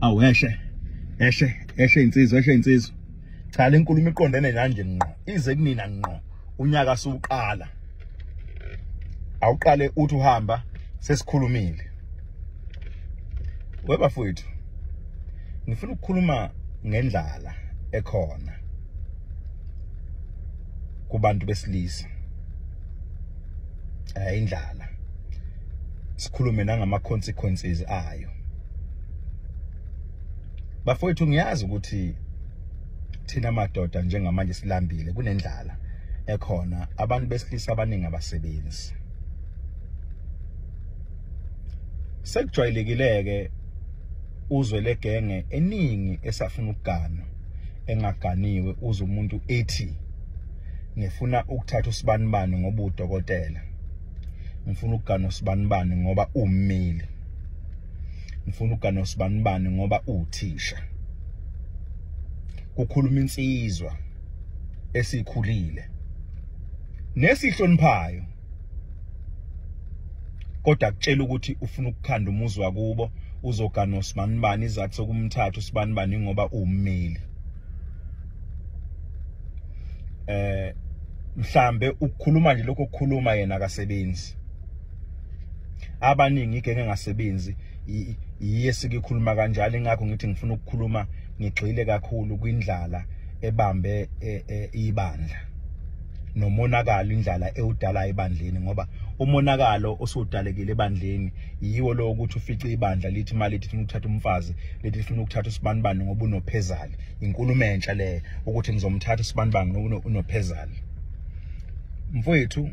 awu eshe eshe eshe insizwa eshe insizwa cha le nkulumo iqondene kanje ngqo ize kunina ngqo unyaka suqala awuqale uthi uhamba sesikhulumile webafowethu ngifuna ukukhuluma ngendlala ekhona kubantu besilisa ayindlala sikhulume nangama consequences ayo bafowethu ngiyazi ukuthi thina madoda njengamanje silambile kunendlala ekhona abantu besilisa abaningi abasebenzi sekujwayelekileke uzwe legenge eningi esafuna ukugana engaganiwe uze umuntu ethi ngifuna ukuthatha usibanibani ngoba udokotela ngifuna ukugana usibanibani ngoba ummeli ngifuna ukugana usibanibani ngoba uthisha kukhuluma insizwa esikhulile nesihloniphayo kodwa kutshela ukuthi ufuna ukukhanda umuzi wakubo uzogana usibanibani izathu sokumthatha usibanibani ngoba ummeli eh mhlambe ukukhuluma nje lokho kukhuluma yena akasebenzi abaningi igenge engasebenzi yiye sikikhuluma kanjalo ingakho ngithi ngifuna ukukhuluma ngigxile kakhulu kwindlala ebambe e, e, ibandla nomonakalo indlala ewudala ebandleni ngoba umonakalo osudalekile ebandleni yiwo lo ukuthi ufice ibandla lithi mali lithi uthatha umfazi lithi lifuna ukuthatha usibanibani ngoba unophezali inkulumo entsha le ukuthi ngizomthatha usibanibanga unophezana mfowethu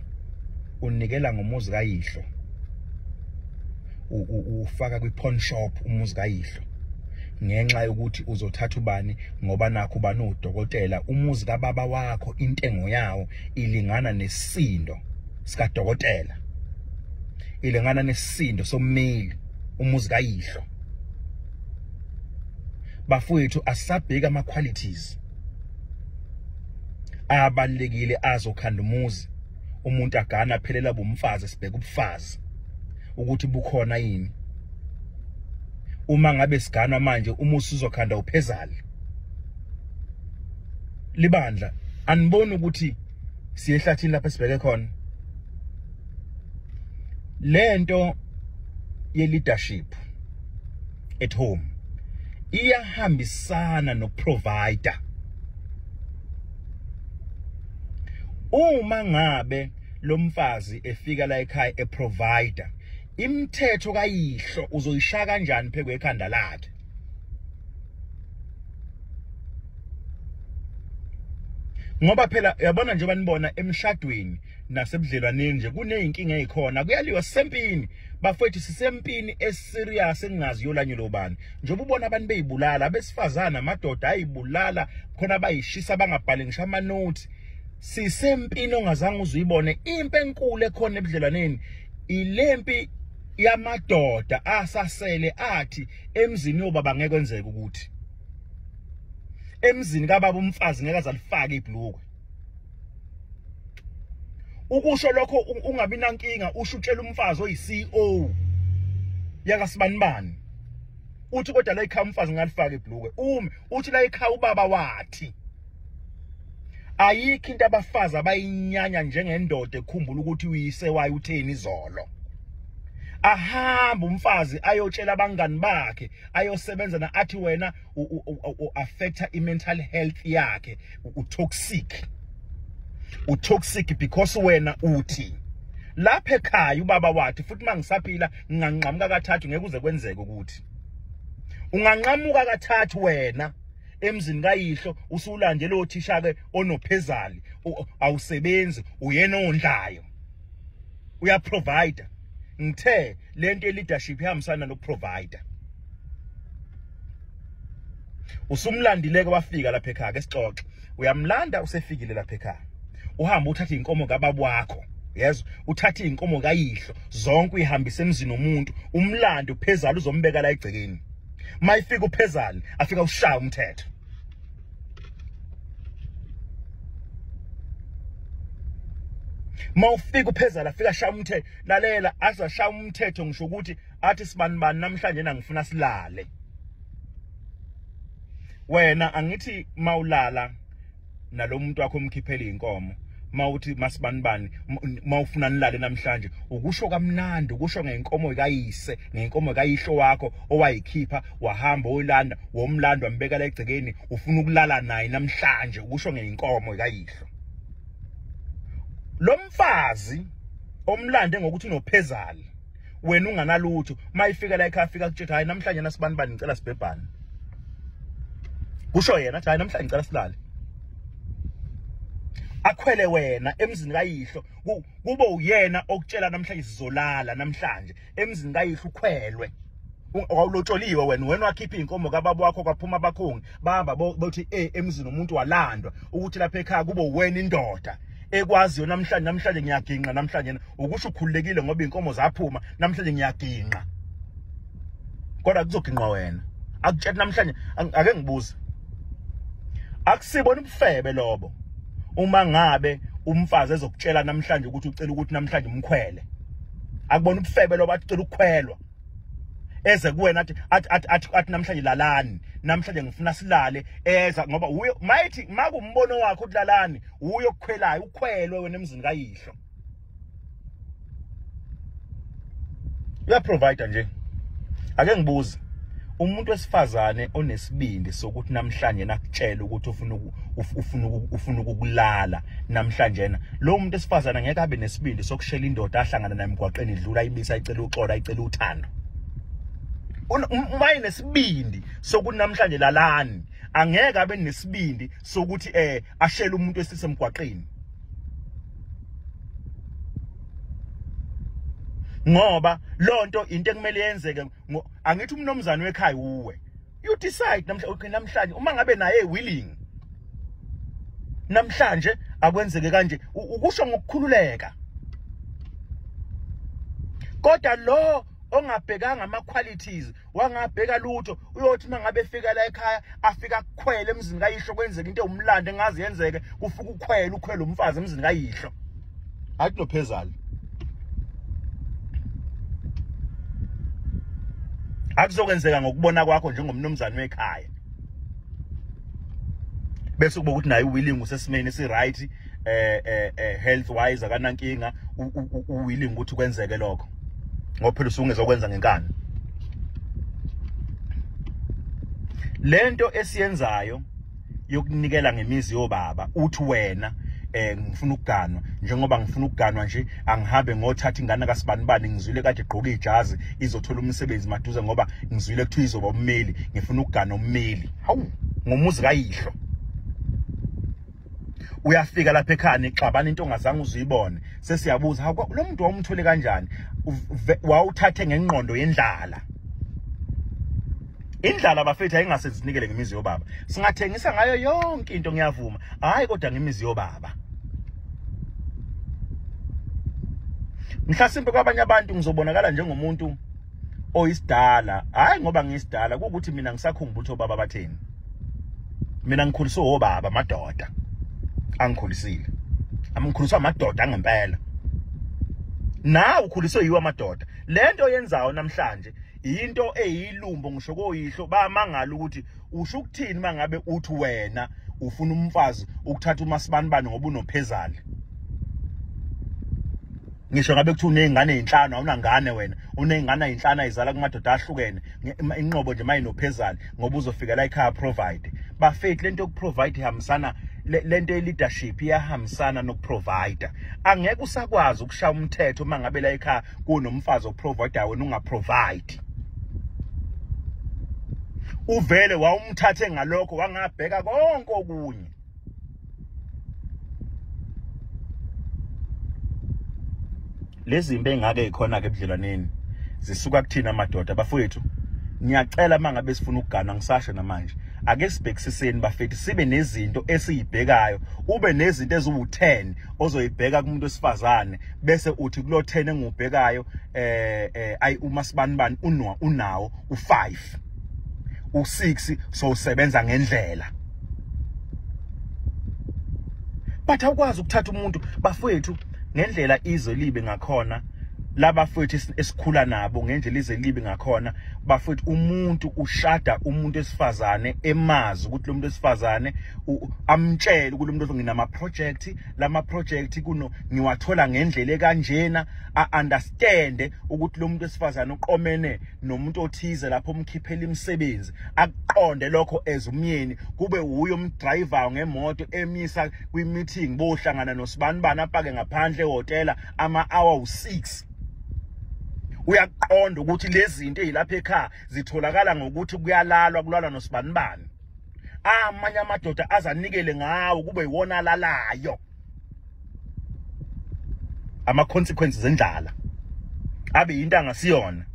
unikela ngomuzi kayihlo ufaka kwi-pawn shop umuzi kayihlo ngenxa yokuthi uzothatha ubani ngoba nakho ubani udokotela umuzi kababa wakho intengo yawo ilingana nesindo sikadokotela ilingana nesindo sommeli umuzi kayihlo bafowethu asabheka ama qualities abalekile azokhanda umuzi umuntu agana aphelela bomfazi sibheka ubufazi ukuthi bukhona yini uma ngabe siganwa manje uma usizokhanda uphezali libandla aniboni ukuthi siyehlathini lapha sibheke khona lento ye leadership at home iyahambisana noprovider uma ngabe lomfazi efika la ekhaya eprovider imithetho kayihlo uzoyishaya kanjani phekwe ekhanda lakhe ngoba phela yabona njengoba nibona emshadweni nasebudlelwaneni nje kuneyinkinga ezikhona kuyaliwa sisempini bafethu sisempini eserious engingazi yolanyo lobani njengoba ubona abantu beyibulala abesifazana amadoda ayibulala khona bayishisa bangabhali ngisho ama notes sisempini ongazange uzuyibone impi enkulu ekhona ebudlelwaneni ilempi yamadoda asasele athi emzini yobaba ngeke kwenzeke ukuthi emzini kababa umfazi ngeke azalifake ibhlukwe ukusho lokho ungabi nankinga usho utshela umfazi oyiCEO yaka sibanibani uthi kodwa la ikhaya umfazi ngalifaka ibhluke umi uthi la ikhaya ubaba wathi ayikho into abafazi abayinyanya njengendoda ekhumbula ukuthi uyise waye utheni izolo ahamba umfazi ayotshela abangani bakhe ayosebenza na athi wena u affecta i mental health yakhe u toxic u toxic because wena uthi lapha ekhaya ubaba wathi futhi mangisaphila nginganqamuka kathathu ngeke uze kwenzeke ukuthi unganqamuka kathathu wena emzini kayihlo usulande lo thisha ke onophezali awusebenzi uyena ondlayo uya provider ngithe lento ye leadership ihambisana no provider usumlandileke wafika lapha ekhaya ke sixoxe uyamlanda usefikile lapha ekhaya uhamba uthatha inkomo kababa wakho yes uthatha inkomo kayihlo zonke uyihambisa emzini omuntu umlando phezulu uzombeka la egcekeni mayifika uphezulu afika ushaya umthetho mawufika uphezala afika shaya umthetho lalela aza shaya umthetho ngisho ukuthi athi sibani bani namhlanje na ngifuna silale wena angithi mawulala nalomuntu wakho umkhiphele inkomo mawuthi masibani bani mawufuna nilale namhlanje ukusho kamnandi ukusho ngenkomo kayise ngenkomo kayihlo wakho owayikhipha wahamba oyilanda womlando wambeka la egcekeni ufuna ukulala naye namhlanje ukusho ngeyinkomo ikayihlo lo mfazi omlande ngokuthi unophezali wena unganalutho mayifika la ekhaya fika kutshetha hayi namhlanje nasibani bani ngicela sibhebhane kusho yena athi hayi namhlanje ngicela silale akhwele wena emzini kayihlo kube uyena okutshela namhlanje sizolala namhlanje emzini kayihlo ukhwelwe wawulotsholiwe wena wena wakhipha inkomo kababa wakho kwaphuma abakhongi baba bothi eh emzini umuntu walandwa ukuthi lapha ekhaya kube wena indoda ekwaziyo namhlanje namhlanje ngiyaginqa namhlanje ukusho ukhululekile ngoba inkomo zaphuma namhlanje ngiyaginqa kodwa kuzoginqa wena akutshela namhlanje ake ngibuze akusibona ubufebe lobo uma ngabe umfazi ezokutshela namhlanje ukuthi ucela ukuthi namhlanje umkhwele akubona ubufebe lo bathi cela ukukhwelwa eze kuwena athi athi athi athi namhlanje lalani namhlanje ngifuna silale eza ngoba uyo mayithi makumbono wakho ukulalani uyo kukhwelayo ukhwelwe wena emzini kayihlo uya provider nje ake ngibuze umuntu wesifazane onesibindi sokuthi namhlanje nakutshela ukuthi ufuna ufuna ufuna ukukulala namhlanje na lo muntu esifazana ngeke abe nesibindi sokushela indoda ahlangana naye emgwaqeni idlula ayibisa ayicela uxola ayicela uthando uma inesibindi sokuthi namhlanje lalani angeke abe nesibindi sokuthi eh ashele umuntu esisemgwaqeni ngoba lonto into ekumele yenzeke angithi umnomzana wekhaya uwe you decide namhlanje namhlanje uma ngabe naye willing namhlanje akwenzeke kanje ukusho ngokukhululeka kodwa lo ongabhekanga ama qualities wangabheka lutho uyothi mangabe efika la ekhaya afika kukhwele emzini kayihlo kwenzeka into umlando engazi yenzeke kufuka ukhwele ukhwele umfazi emzini kayihlo hayi kunophezali akuzokwenzeka ngokubona kwakho njengomnumzane wekhaya bese kuba ukuthi naye uwilling usesimeni si-right eh, eh, eh, health wise akanankinga uwilling ukuthi kwenzeke lokho ngoba phela usungezokwenza ngenkani lento esiyenzayo yokunikela ngemizi yobaba uthi wena eh ngifuna ukuganwa njengoba ngifuna ukuganwa nje angihambe ngothatha ingane kasibanibani ngizwile kade gqoka ijazi izothola umsebenzi maduze ngoba ngizwile kuthiwa izoba ummeli ngifuna ukuganwa ummeli hawu ngomuzi kayihlo uyafika lapha ekhani xabana into ongazange uzuyibone sesiyabuza ha lo muntu wawumthole kanjani wawuthathe ngengqondo yendlala Indlala bafethu ayingase zinikele ngemizi yobaba. Singathengisa ngayo yonke into ngiyavuma. Hayi kodwa ngemizi yobaba. Mhlasimbe kwabanye abantu ngizobonakala njengomuntu oyisidala. Hayi ngoba ngiyisidala ukuthi mina ngisakhumbula ukuthi obaba batheni. Mina ngikhuliswe obaba madoda. Angikhulisile. Amkhuliswa amadoda angempela. Nawe ukhuliswe yiwa amadoda. Lento oyenzayo namhlanje yinto eyilumbo ngisho koyihlo bayamangala ukuthi usho ukuthini mangabe uthi wena ufuna umfazi ukuthatha umasibanibani ngoba unophezali ngisho ngabe kuthi unezingane ezinhlanu awunangane wena unezingane ezinhlanu ayizala kumadoda ahlukene inqobo nje mayinophezali ngoba uzofikela ekhaya provide bafethu lento yokuprovide ihambisana lento ye-leadership iyahambisana nokuprovider angeke usakwazi ukushaya umthetho uma ngabe la ekhaya kunomfazi oprovider wena ungaprovide uvele wawumthathe ngalokho wangabheka konke okunye lezimbe engake ikhona ke ebudlelwaneni zisuka kuthina amadoda bafowethu ngiyacela mangabe sifuna ukugana ngisasho namanje ake sibhekisiseni bafethu sibe nezinto esiyibhekayo ube nezinto eziwu10 ozoyibheka kumuntu wesifazane bese uthi kulo 10 engubhekayo eh eh ayi uma sibanibani unwa unawo u5 u6 so usebenza ngendlela but awukwazi ukuthatha umuntu bafowethu ngendlela izwe libe ngakhona labafowethu esikhula nabo ngendlela ize libi ngakhona bafowethu umuntu ushada umuntu esifazane emazi ukuthi lo muntu esifazane amtshele ukuthi lo muntu nginama project lama project kuno ngiwathola ngendlela ekanjena a understand ukuthi lo muntu esifazana uqomene nomuntu othize lapho umkhiphela imisebenzi akuqonde lokho as umyeni kube uyo umdriver ngemoto emisa kwi meeting bohlangana nosibani bana apake ngaphandle ehotela ama hour u6 uyaqonda ukuthi lezi zinto ezilapha ekhaya zitholakala ngokuthi kuyalalwa kulalwa nosibanibani amanye amadoda azanikele ngawo kube yiwona alalayo ama consequences endlala abe into angasiyona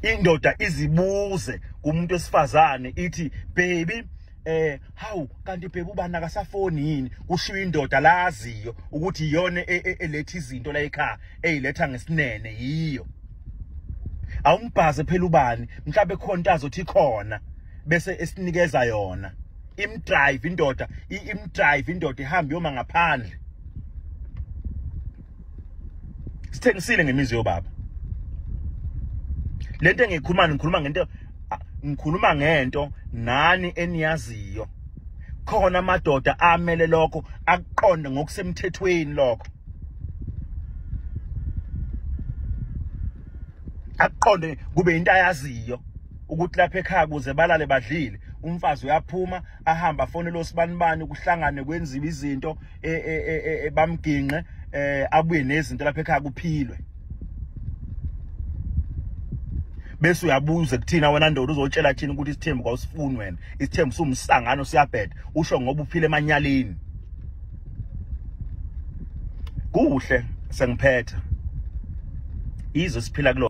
indoda izibuze kumuntu esifazane ithi baby eh hawu kanti bheka ubani akasafoni yini kushiya indoda laziyo ukuthi iyona e, e, eletha izinto la ekhaya eyiletha ngesinene yiyo awumbhaze phela ubani mhlawumbe khona into azothi khona bese esinikeza yona imdrive indoda imdrive indoda ihamba yoma ngaphandle sithengisile ngemizi yobaba lento engikhuluma ngikhuluma ngento ngikhuluma ngento nani eniyaziyo khona amadoda amele lokho akuqonde ngokusemthethweni lokho akuqonde kube into ayaziyo ukuthi lapha ekhaya kuze balale badlile umfazi uyaphuma ahamba afonele osibanibani kuhlangane kwenziwe izinto e, e, e, bamginqe eh abuye nezinto lapha ekhaya kuphilwe bese uyabuza kuthina wena ndoda uzotshela thina ukuthi isithembu kwawusifuni wena isithembu sumsangano siyabheda usho ngoba uphile emanyaleni kuhle sengiphetha izwe siphila kulo